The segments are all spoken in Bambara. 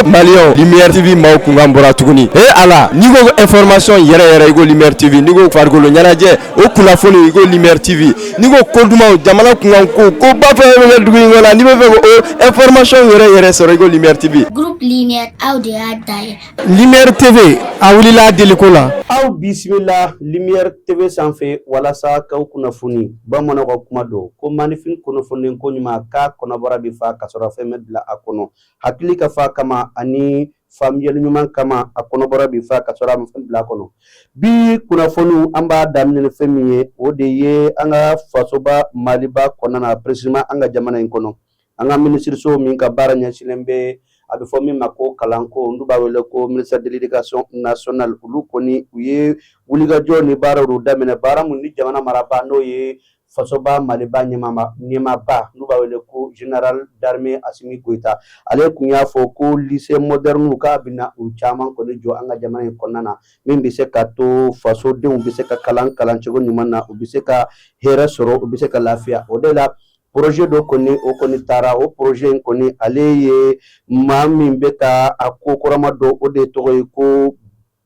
Maliens lumière TV maaw kunkan bɔra tuguni ee Ala n'i ko information yɛrɛ yɛrɛ i ko lumière TV n'i ko farikolo ɲɛnajɛ o kunnafoni i ko lumière TV n'i ko ko dumanw jamana kunkan ko koba fɛn fɛn bɛ kɛ dugu in kɔnɔ n'i b'a fɛ k'o information yɛrɛ yɛrɛ sɔrɔ i ko lumière TV. Groupe lumière aw de y'a dayɛlɛ. Lumière TV a wulila a deliko la. Aw bisimila lumière TV sanfɛ walasa k'aw kunnafoni bamananw ka kuma don ko maanifin kunnafonilen koɲuman k'a kɔnɔbara bɛ fa k'a sɔrɔ fɛn ma bila a kɔnɔ. hakili ka fa kama ani faamuyali ɲuman kama a kɔnɔbara bi fa k'a sɔrɔ a ma fɛn bila a kɔnɔ bi kunnafoniw an b'a daminɛ ni fɛn min ye o de ye an ka fasoba maliba kɔnɔna na précisément an ka jamana in kɔnɔ an ka minisiriso min ka baara ɲɛsinnen bɛ a bɛ fɔ min ma ko kalanko n'u b'a wele ko ministère de l'éducation nationale olu kɔni u ye wulikajɔ ni baaraw daminɛ baara mun ni jamana marabaa n'o ye fasoba maliba ɲɛmaaba n'u b'a wele ko général d'armée Assimi Goïta ale kun y'a fɔ ko lycée modɛrɛniw k'a bɛna u caman kɔni jɔ an ka jamana in kɔnɔna na min bɛ se ka to fasodenw bɛ se ka kalan kalan cogo ɲuman na u bɛ se ka hɛrɛ sɔrɔ u bɛ se ka lafiya o de la projet dɔ kɔni o kɔni taara o projet in kɔni ale ye maa min bɛ ka a ko kɔrɔma don o de tɔgɔ ye ko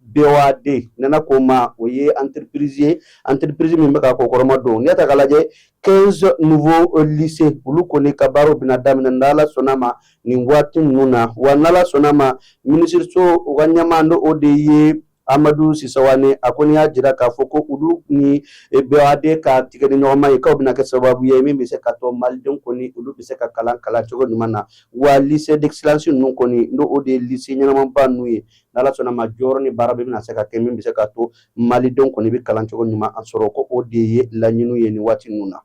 BOAD nana ko ma o ye entreprise ye entreprise min bɛ ka ko kɔrɔma don n'i y'a ta k'a lajɛ 15 nouveaux lycées olu kɔni ka baaraw bɛna daminɛ n'ala sɔnna ma nin waati ninnu na wa n'ala sɔnna ma minisiriso u ka ɲɛmaa n'o o de ye Amadou Sy Savané a kɔni y'a jira k'a fɔ ko olu ni e, BOAD ka tigɛdiɲɔgɔnma ye k'a bɛna kɛ sababu ye min bɛ se ka to malidenw kɔni olu bɛ se ka kalan kalan cogo ɲuman na wa lycée d'excellence ninnu kɔni n'o o de ye lycée ɲɛnamaba ninnu ye n'ala sɔnna ma jɔyɔrɔ ni baara bɛɛ bɛna se ka kɛ min bɛ se ka to malidenw kɔni bɛ kalan cogo ɲuman sɔrɔ ko o de ye laɲiniw ye nin waati ninnu na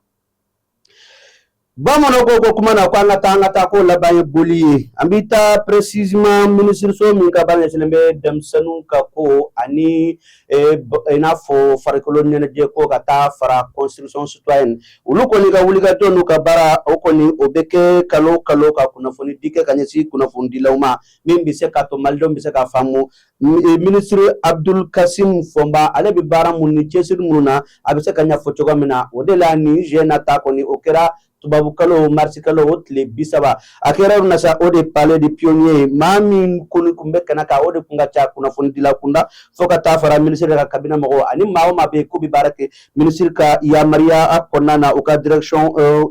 bamananw ko ko kuma na ko an ka taa an ka taa ko laban ye boli ye an bɛ taa précisément minisiriso min ka baara ɲɛsinnen bɛ denmisɛnninw ka ko ani eh, i n'a fɔ farikolo ɲɛnajɛ ko ka taa fara construction citoyenne olu kɔni ka wulikajɔ n'u ka baara o kɔni o bɛ kɛ kalo kalo ka kunnafoni di kɛ ka ɲɛsin kunnafonidilaw ma min bɛ se ka to malidenw bɛ se ka faamu e, minisiri Abdoul Kassim Fomba ale bɛ baara minnu ni cɛsiri minnu na a bɛ se k'a ɲɛfɔ cogo min na o de la nin jɛ na ta kɔni o kɛra tubabukalo marisikalo o tile bi saba a kɛra yɔrɔ min na sa o de palais des pionniers ye maa min kɔni kun bɛ kɛnɛ kan o de kun ka ca kunnafonidila kunda fo ka taa fara minisiri ka cabinet mɔgɔw ani maa o maa bɛ yen k'u bɛ baara kɛ minisiri ka yamaruya kɔnɔna na u ka direction euh,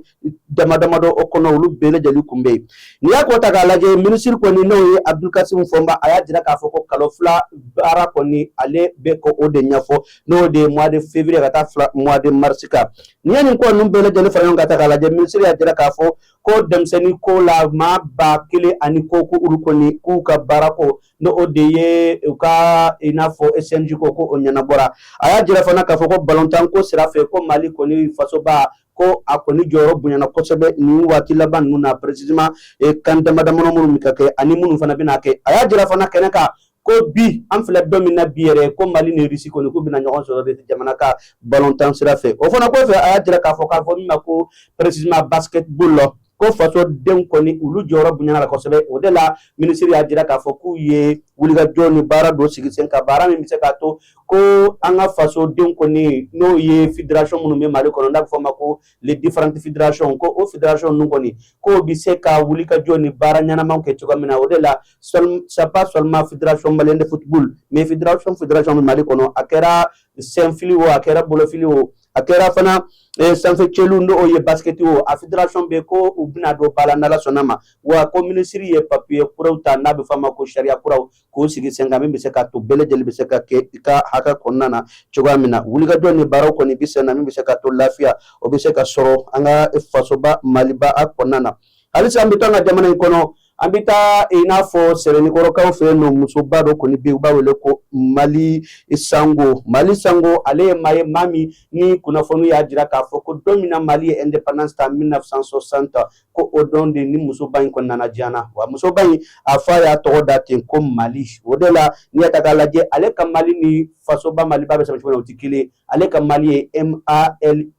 dama damadɔ o kɔnɔ olu bɛɛ lajɛlen kun bɛ yen n'i y'a ko ta k'a lajɛ minisiri kɔni n'o ye abudulkasimu fɔnba a y'a jira k'a fɔ ko kalo fila baara kɔni ale bɛ ka o de ɲɛfɔ n'o de ye mois de février ka taa bila mois de mars kan n'i ye nin ko ninnu bɛɛ lajɛlen fara ɲɔgɔn kan ta k'a lajɛ minisiri y'a jira k'a fɔ ko denmisɛnnin ko la maa ba kelen ani kɔ ko olu kɔni k'u ka baara ko ni o de ye u ka i n'a fɔ SNJ ko ko o ɲɛnabɔra a y'a jira fana k'a fɔ ko balontan ko sira fɛ ko Mali kɔni fasoba ko a kɔni jɔyɔrɔ bonyana kosɛbɛ nin waati laban ninnu na précisément eh, CAN damadamani minnu bɛ ka kɛ ani minnu fana bɛna kɛ a y'a jira fana kɛnɛ kan ko bi an filɛ don min na bi yɛrɛ ko mali ni Russie kɔni k'u bɛna ɲɔgɔn sɔrɔ de jamana ka balontan sira fɛ o fana kɔfɛ a y'a jira k'a fɔ k'a fɔ min ma ko précisément basketball la ko faso denw kɔni olu jɔyɔrɔ bonyana la kosɛbɛ o de la minisiri y'a jira k'a fɔ k'u ye wulikajɔ ni baara dɔ sigi sen kan baara min bɛ se k'a to ko an ka faso denw kɔni n'o ye fédération minnu bɛ mali kɔnɔ n'a bɛ fɔ ma ko les différentes fédérations ko o fédération ninnu kɔni k'o bɛ se ka wulikajɔ ni baara ɲɛnamaw kɛ cogo min na o de la c'est pas seulement fédération malienne de football mais fédération bɛ mali kɔnɔ a kɛra senfili o a kɛra bolofili o a kɛra fana eh, sanfɛ cɛlu n'o ye basikɛti o a fédération bɛɛ ko u bɛna don ba la n'ala sɔnna ma wa ko minisiri ye papiye kuraw ta n'a bɛ f'a ma ko sariya kuraw k'o sigi sen kan min bɛ se ka to bɛɛ lajɛlen bɛ se ka kɛ i ka hakɛ kɔnɔna na cogoya min na wulikajɔ ni baaraw kɔni bɛ sen na min bɛ se ka to lafiya o bɛ se ka sɔrɔ an ka fasoba maliba a kɔnɔna na halisa an bɛ to an ka jamana in kɔnɔ An bɛ taa i n'a fɔ sɛbɛnikɔrɔkaw fɛ yen n'o musoba dɔ kɔni bɛ yen u b'a wele ko mali sango mali sango ale ye maa ye maa min ni kunnafoni y'a jira k'a fɔ ko don min na mali ye indépendance ta mille neuf cent soixante ko o don de ni musoba in kɔni nana diɲɛ na wa musoba in a fa y'a tɔgɔ da ten ko mali o de la n'i y'a ta k'a lajɛ ale ka mali ni fasoba maliba bɛ sɛbɛn cogo min na o tɛ kelen ale ka mali ye MALY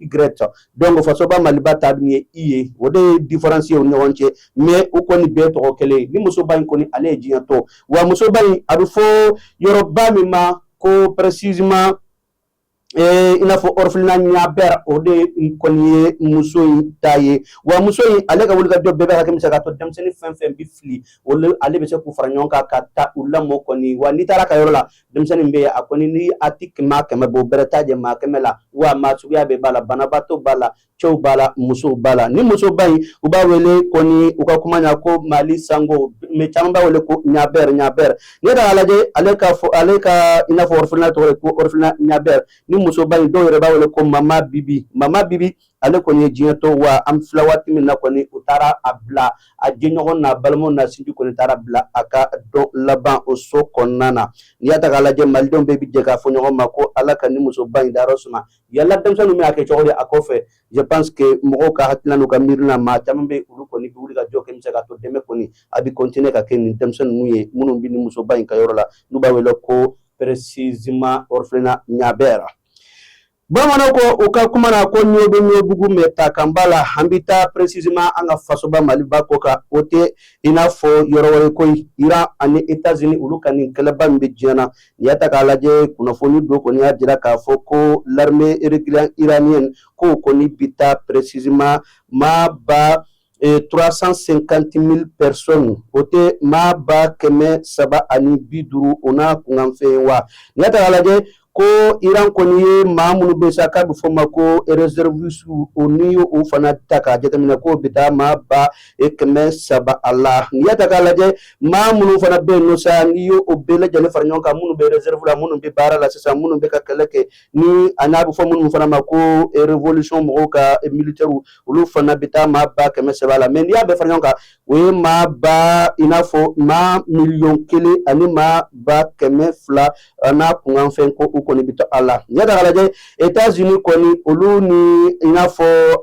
donc fasoba maliba ta dun ye i ye o de ye différence ye u ni ɲɔgɔn cɛ mais u kɔni bɛɛ tɔgɔ kelen ni musoba in kɔni ale ye diɲɛ to wa musoba in a bɛ fɔ yɔrɔba min ma ko précisément Eh, i n'a fɔ orphelinat ɲabɛr o de kɔni ye muso in ta ye wa muso in ale ka wulikajɔ bɛɛ bɛ hakɛ min se k'a to denmisɛnnin fɛn fɛn bi fili olu ale bɛ se k'u fara ɲɔgɔn kan ka taa u lamɔ kɔni wa n'i taara ka yɔrɔ la denmisɛnnin bɛ yen a kɔni ni a ti maa kɛmɛ bɔ bɛrɛ t'a jɛ maa kɛmɛ la wa maa suguya bɛɛ b'a la banabaatɔ b'a la cɛw b'a la musow b'a la ni musoba in u b'a wele kɔni u ka kuma na ko mali sango mais caman b'a wele ko ɲabɛr ɲabɛr n'i yɛrɛ y'a lajɛ ale ka i n'a fɔ orphelinat tɔgɔ ye ko orphelinat ɲabɛr ni musoba in dɔw yɛrɛ b'a wele ko mama bibi mama bibi ale kɔni ye diɲɛ to wa an filɛ waati min na kɔni u taara a bila a jɛɲɔgɔn n'a balimaw n'a sinji kɔni taara bila a ka don laban o so kɔnɔna na n'i y'a ta k'a lajɛ malidenw bɛɛ bi jɛ k'a fɔ ɲɔgɔn ma ko ala ka ni musoba in dayɔrɔ suma yala denmisɛnninw bɛ a kɛ cogo di a kɔfɛ je pense que mɔgɔw ka hakilina n'u ka miiri la maa caman bɛ olu kɔni bi wulikajɔ kɛ min se ka to dɛmɛ kɔni a bi continuer ka kɛ nin denmisɛn ninnu ye minnu bi ni musoba in ka yɔrɔ la n'u b'a wele ko précisément orphelinat Niaber bamananw ko u ka kuma na ko ɲɔ bɛ ɲɔbugu mais ta kan b'a la an bɛ taa précisément an ka fasoba maliba ko kan o tɛ i n'a fɔ yɔrɔ wɛrɛ koyi Iran ani États-Unis olu ka nin kɛlɛba min bɛ diɲɛ na n'i y'a ta k'a lajɛ kunnafoni dɔ kɔni y'a jira k'a fɔ ko l'armée régulière iranienne k'o kɔni bɛ taa précisément maa ba ee trois cent cinquante mille personnes o tɛ maa ba kɛmɛ saba ani bi duuru o n'a kunkanfɛn wa n'i y'a ta k'a lajɛ ko Iran kɔni ye maa minnu bɛ sa k'a bɛ fɔ ma ko réservistes o n'i y'o fana ta k'a jateminɛ k'o bɛ taa maa ba e kɛmɛ saba a la n'i y'a ta k'a lajɛ maa minnu fana bɛ yen nɔ sa n'i y'o o bɛɛ lajɛlen fara ɲɔgɔn kan minnu bɛ réserve la minnu bɛ baara la sisan minnu bɛ ka kɛlɛ kɛ ni a n'a bɛ fɔ minnu fana ma ko révolution mɔgɔw ka militaires olu fana bɛ taa maa ba kɛmɛ saba la mais n'i y'a bɛɛ fara ɲɔgɔn kan o ye maa ba i n'a fɔ maa miliyɔn kelen ani maa ba kɛmɛ fila n'a kunkanfɛn ko u kɔni bɛ to a la n'i y'a ta k'a lajɛ États-Unis kɔni olu ni i n'a fɔ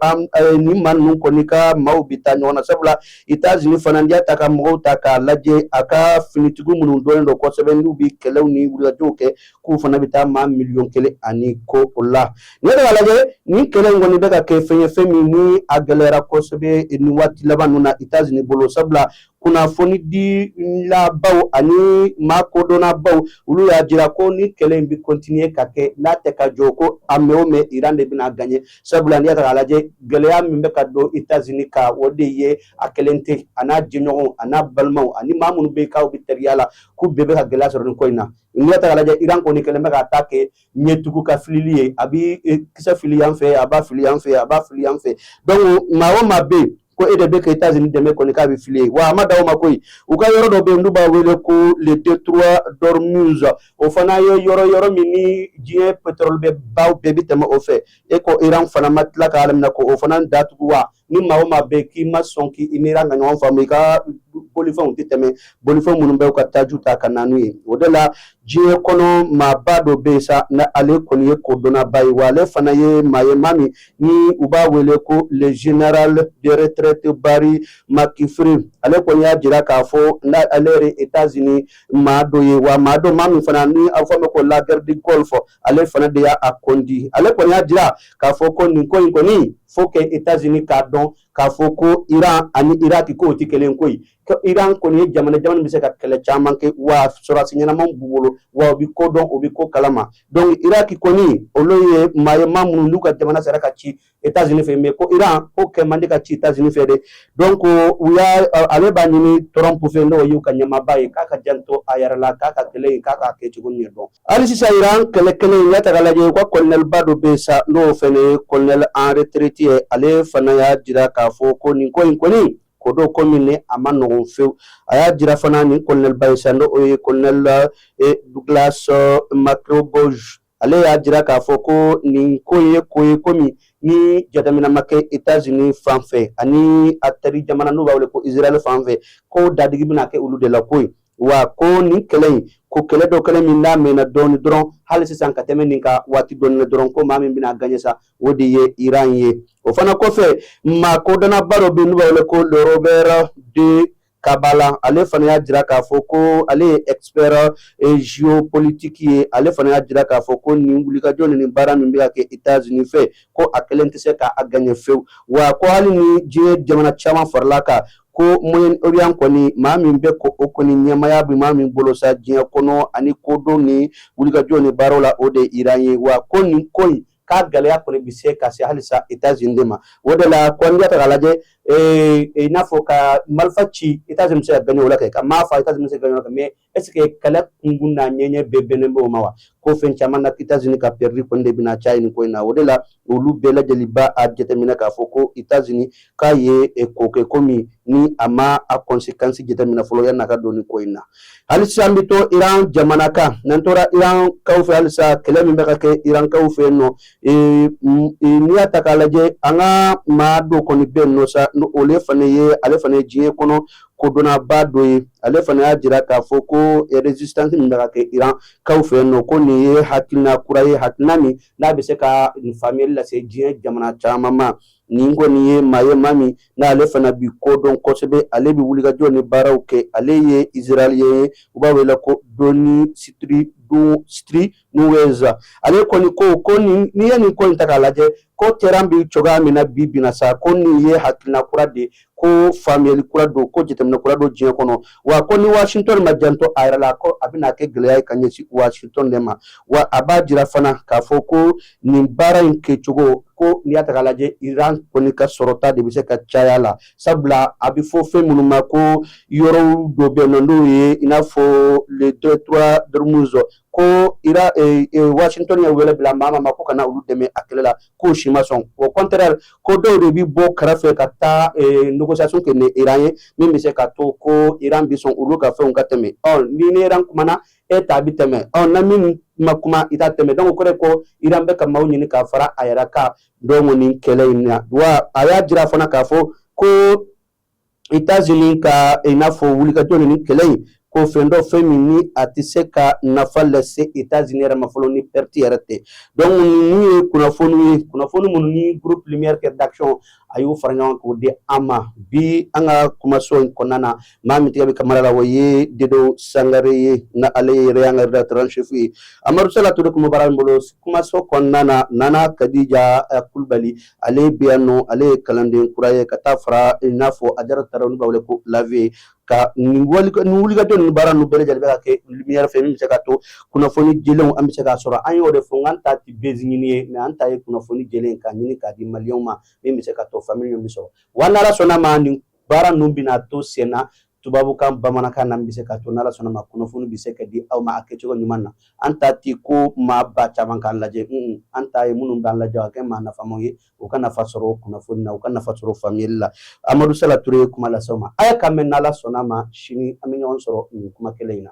nin maa ninnu kɔni ka maaw bɛ taa ɲɔgɔn na sabula États-Unis fana n'i y'a ta ka mɔgɔw ta k'a lajɛ a ka finitigiw minnu dɔnnen don kosɛbɛ n'u bɛ kɛlɛw ni wulikajɔw kɛ k'u fana bɛ taa maa miliyɔn kelen ani kɔ o la n'i y'a ta k'a lajɛ nin kɛlɛ in kɔni bɛ ka kɛ fɛn ye fɛn min ni a gɛlɛyara kosɛbɛ nin waati laban ninnu na États-Unis bolo sabula kunnafonidilabaw ani maa kodɔnnabaw olu y'a jira ko ni kɛlɛ in bɛ continuer ka kɛ n'a tɛ ka jɔ ko a mɛn o mɛn Iran de bɛna gagner sabula n'i y'a ta k'a lajɛ gɛlɛya min bɛ ka don États-Unis kan o de ye a kelen tɛ a n'a jɛɲɔgɔnw a n'a balimaw ani maa minnu bɛ yen k'aw bɛ teriya la k'u bɛɛ bɛ ka gɛlɛya sɔrɔ nin ko in na n'i y'a ta k'a lajɛ Iran kɔni kɛlen bɛ k'a ta kɛ ɲɛtugu ka filili ye a bi e, kisɛ fili yan fɛ a b'a fili yan fɛ a b'a fili yan fɛ donc maa o maa bɛ yen ko e de bɛ ka États-Unis dɛmɛ kɔni k'a bɛ fili ye wa a ma dan o ma koyi u ka yɔrɔ dɔ bɛ yen n'u b'a wele ko le détroit d'Ormuz o fana ye yɔrɔ yɔrɔ min ni diɲɛ pétrole bɛ baw bɛɛ bɛ tɛmɛ o fɛ e ko Iran fana ma tila k'a laminɛ k'o fana datugu wa ni maa o maa bɛ k'i ma sɔn k'i ni Iran ka ɲɔgɔn faamu i ka bolifɛnw tɛ tɛmɛ bolifɛn minnu bɛ ka taji ta ka na n'u ye o de la diɲɛ kɔnɔ maaba dɔ bɛ yen sa na ale kɔni ye kodɔnnaba ye wa ale fana ye maa ye maa min ni u b'a wele ko le général de retraite Barry McCaffrey ale kɔni y'a jira k'a fɔ n'ale yɛrɛ États-Unis maa dɔ ye wa maa don maa min fana ni a fɔ ma ko la guerre du Golfe ale fana de y'a conduit ale kɔni y'a jira k'a fɔ ko nin ko in kɔni faut que États-Unis k'a dɔn k'a fɔ ko iran ani iraki k'o tɛ kelen ko ye iran kɔni ye jamana jamana bɛ se ka kɛlɛ caman kɛ wa sɔrɔdasi ɲɛnaman b'u bolo wa u bɛ ko dɔn u bɛ ko kalama donc iraki kɔni olu ye maa ye maa minnu n'u ka jamana sera ka ci États-Unis fɛ mais ko Iran ko kɛ man di ka ci États-Unis fɛ dɛ donc u y'a ale b'a ɲini Trump fɛ n'o y'u ka ɲɛmaaba ye k'a k'a janto a yɛrɛ la k'a ka kɛlɛ in k'a k'a kɛ cogo ɲɛ dɔn hali sisan Iran kɛlɛ kelen in y'a ta k'a lajɛ u ka colonelba dɔ bɛ yen sa n'o fɛnɛ ye colonel en retraite ye ale fana y'a jira k'a fɔ ko nin ko in kɔni ko don ko min ni a man nɔgɔn fewu a y'a jira fana nin colonelba ye sa n'o ye colonel Douglas Macgregor ale y'a jira k'a fɔ ko nin ko in ye ko ye ko min ni jateminɛ ma kɛ États-Unis fan fɛ ani a teri jamana n'u b'a wele ko Israël fan fɛ ko dadigi bɛna kɛ olu de la ko ye wa ko nin kɛlɛ in ko kɛlɛ don kɛlɛ min n'a mɛnna dɔɔni dɔrɔn hali sisan ka tɛmɛ nin kan waati dɔɔni na dɔrɔn ko maa min bɛna gagner sa o de ye Iran ye o fana kɔfɛ maa kodɔnnaba dɔ bɛ yen n'u b'a wele ko le Robert D Kaplan ale fana y'a jira k'a fɔ ko ale ye expert géopolitique ye ale fana y'a jira k'a fɔ ko nin wulikajɔ ni nin baara min bɛ ka kɛ États-Unis fɛ ko a kelen tɛ se k'a gagner fewu wa ko hali ni diɲɛ jamana caman farala kan ko moyen orient kɔni maa min bɛ ko o kɔni ɲɛmaya bɛ maa min bolo sa diɲɛ kɔnɔ ani kodɔn ni wulikajɔ ni baaraw la o de ye Iran ye wa ko nin ko in k'a gɛlɛya kɔni bi se ka se halisa États-Unis de ma o de la ko n'i y'a ta k'a lajɛ ee i n'a fɔ ka marifa ci États-Unis bɛ se ka gagner o la kɛ ka maa faa États-Unis bɛ se ka gagner o la kɛ mais est ce que kɛlɛ kunkun n'a ɲɛɲɛ bɛɛ bɛnnen bɛ o ma wa ko fɛn caman na États-Unis ka perdre kɔni de bɛna caya nin ko in na o de la olu bɛɛ lajɛlen b'a jateminɛ k'a fɔ ko États-Unis k'a ye eh, ko kɛ ko min ni a ma a conséquence jateminɛ fɔlɔ yanni a ka don nin ko in na halisa an bɛ to iran jamana kan n'an tora iran kaw fɛ halisa kɛlɛ min bɛ ka kɛ iran kaw fɛ yen nɔ n'i y'a ta k'a lajɛ an ka maa dɔ kɔni bɛ yen nɔ sa olu fana ye ale fana ye diɲɛ kɔnɔ kodɔnnaba dɔ ye ale fana y'a jira k'a fɔ ko résistance min bɛ ka kɛ iran kaw fɛ yen nɔ ko nin ye hakilina kura ye hakilina min n'a bɛ se ka faamuyali lase diɲɛ jamana caman ma Nin kɔni ye maa ye maa min n'ale fana bi kodɔn kosɛbɛ ale bɛ wulikajɔ ni baaraw kɛ ale ye Israélien ye u b'a wele ko Danny Citri Citrinowicz ale kɔni ko ko n'i ye nin ko in ta k'a lajɛ ko terrain bɛ cogoya min na bi bi in na sa ko nin ye hakilina kura de ye ko faamuyali kura don ko jateminɛ kura don diɲɛ kɔnɔ wa ko ni washington ma janto a yɛrɛ la ko a bɛna kɛ gɛlɛya ye ka ɲɛsin washington de ma wa a b'a jira fana k'a fɔ ko nin baara in kɛcogo ko n'i y'a ta k'a lajɛ iran kɔni ka sɔrɔta de bɛ se ka caya la sabula a bɛ fɔ fɛn minnu ma ko yɔrɔ dɔ bɛ yen nɔ n'o ye i n'a fɔ le détroit d'ormuz ko ira eh, eh, washington ye wele bila maa ma k'u ka na olu dɛmɛ a kɛlɛ la k'o si ma sɔn au contraire ko dɔw de bɛ bɔ kɛrɛfɛ ka taa eh, négociation kɛ ni iran ye min bɛ se ka to ko iran bɛ sɔn olu ka fɛnw ka tɛmɛ ɔ n'i ni iran kumana e ta bɛ tɛmɛ ɔ na min ma kuma i ta tɛ tɛmɛ donc o kɔrɔ ye ko iran bɛ ka maaw ɲini ka fara a yɛrɛ kan donc nin kɛlɛ in na wa a y'a jira fana k'a fɔ ko états-unis ka i n'a fɔ wulikajɔ ni kɛlɛ in ko fɛn don fɛn min ni a tɛ se ka nafa lase états-unis yɛrɛ ma fɔlɔ ni perte yɛrɛ tɛ donc ninnu ye kunnafoni ye kunnafoni minnu ni groupe lumière rédaction a y'o fara ɲɔgɔn k'o di an ma bi an ka kumaso in kɔnɔna na maa min tigɛ bɛ caméra la o ye dedo sangare ye na ale yɛrɛ y'an ka rédacteur en chef ye amadu sala ture kumabara min bolo kumaso kɔnɔna na nana kadija kulubali ale bi yan nɔ ale ye kalanden kura ye ka taa fara i n'a fɔ ajara tarawele n'u b'a wele ko la vieille kan nin wulikajɔ ninnu baara ninnu bɛɛ lajɛlen bɛ ka kɛ lumière fɛ min bɛ se ka to kunnafoni jɛlenw an bɛ se k'a sɔrɔ an y'o de fɔ n k'an ta ti buzz ɲini ye mais an ta ye kunnafoni jɛlen k'a ɲini k'a di maliyɛnw ma min bɛ se ka to faamuyali min bɛ sɔrɔ wa n'ala sɔnna ma nin Baara ninnu bɛna to sen na tubabukan bamanankan na bɛ se ka to n'ala sɔnna ma kunnafoni bɛ se ka di aw ma a kɛcogo ɲuman na an ta tɛ ko maa ba caman k'an lajɛ an ta ye minnu b'an lajɛ a kɛ maa nafamaw ye u ka nafa sɔrɔ kunnafoni na u ka nafa sɔrɔ faamuyali la amadu sala ture ye kuma lase aw ma a y'a kan mɛn n'ala sɔnna ma sini an bɛ ɲɔgɔn sɔrɔ nin kuma kelen in na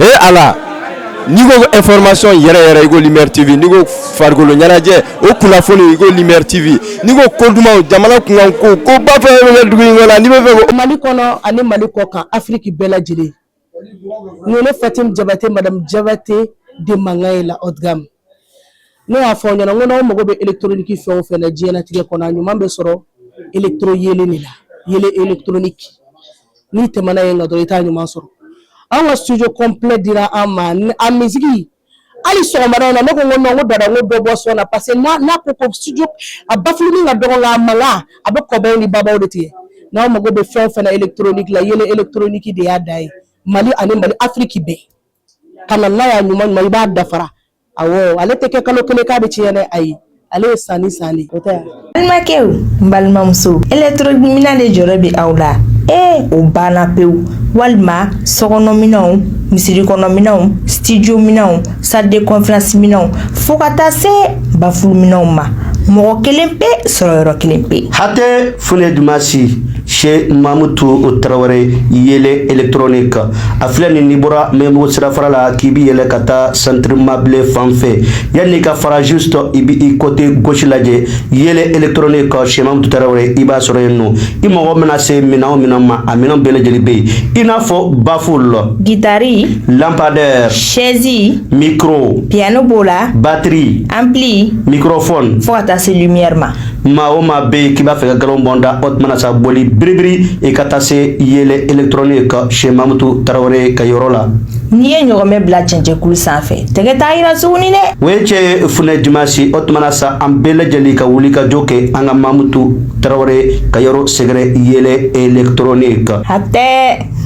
e ala n'i ko ko information yɛrɛ yɛrɛ i ko Lumière TV n'i ko farikolo ɲɛnajɛ o kunnafoni i ko Lumière TV n'i ko ko dumanw jamana kunkan ko ko ba fɛn fɛn bɛ kɛ dugu in kɔnɔ n'i b'a fɛ ko. Mali kɔnɔ ani Mali kɔkan Afiriki bɛɛ lajɛlen nin ye ne Fatim Jabate Madamu Jabate de mankan ye la haute gamme Ne y'a fɔ aw ɲɛna n ko n'aw mago bɛ électronique fɛn o fɛn na diɲɛlatigɛ kɔnɔ a ɲuman bɛ sɔrɔ électro yeelen de la yeelen électronique n'i tɛmɛna yen kan dɔrɔn i t'a ɲuman sɔrɔ an ka studio complet dira an ma a misiki hali sɔgɔmada in na ne ko n ko non n ko dada n ko dɔ bɔ son na parce que n'a n'a ko ko studio a bafuluni ka dɔgɔ nka a mankan a bɛ kɔbaw ni babaw de tigɛ n'aw mago bɛ fɛn o fɛn na électronique la yeelen électronique de y'a da ye Mali ani Mali Afrique bɛɛ ka na n'a y'a ɲuman ɲuman i b'a dafara awɔ ale tɛ kɛ kalo kelen k'a bɛ tiɲɛ dɛ ayi ale ye san ni san de o tɛ yan balimakɛw n balimamusow électronique minɛn de jɔrɔ bɛ aw la ee o banna pewu walima sokɔnɔminɛnw misiri kɔnɔminɛnw studio minɛnw salle de conférence minɛnw fo ka taa se bafulu minɛnw ma mɔgɔ kelen pe sɔrɔ yɔrɔ kelen pe hatɛ fule dumasi Sɛ mamutu tarawele yɛlɛ etrnen kan a filɛ nin ni bɔra mɛbugu sira fara la k'i bɛ yɛlɛ ka taa sanribablen fan fɛ yan n'i ka farazo sɔrɔ i bɛ i kɔte gsi lajɛ yɛlɛ etrnen kan sɛtu tarawele i b'a sɔrɔ yen nɔ i mɔgɔ bɛna se min o min ma a minɛn bɛɛ lajɛlen bɛ yen i n'a fɔ bafo la gitari lapadɛ sɛɛnsin miro piyɛnɛn b'o la bateri an bilen mikrofɔ fo ka taa se ɲɛri ma maa o maa bɛ yen k'i b'a fɛ ka nkalon bɔ n da o tuma na sa boli biribiri i ka taa se yɛlɛ électronique chez mamutu tarawele ka yɔrɔ la. n'i ye ɲɔgɔnmɛ bila cɛncɛnkulu sanfɛ tɛgɛ t'a yira tuguni dɛ. o ye cɛ ye funɛ dimansi o tuma na sa an bɛɛ lajɛlen ka wuli ka jɔ kɛ an ka mamutu tarawele ka yɔrɔ sɛgɛrɛ yɛlɛ électronique. hatɛ.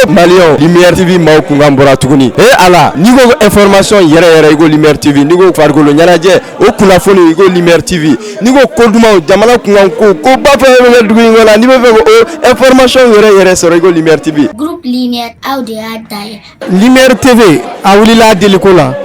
Maliens Lumière TV maaw kunkan bɔra tuguni ee Ala n'i ko ko information yɛrɛ yɛrɛ i ko Lumière TV n'i ko farikolo ɲɛnajɛ o kunnafoni i ko Lumière TV n'i ko ko dumanw jamana kunkan ko ko ba fɛn o fɛn bɛ kɛ dugu in kɔnɔ n'i b'a fɛ k'o information yɛrɛ yɛrɛ sɔrɔ i ko Lumière TV. Groupe Lumière aw de y'a da ye. Lumière TV a wulila a deliko la.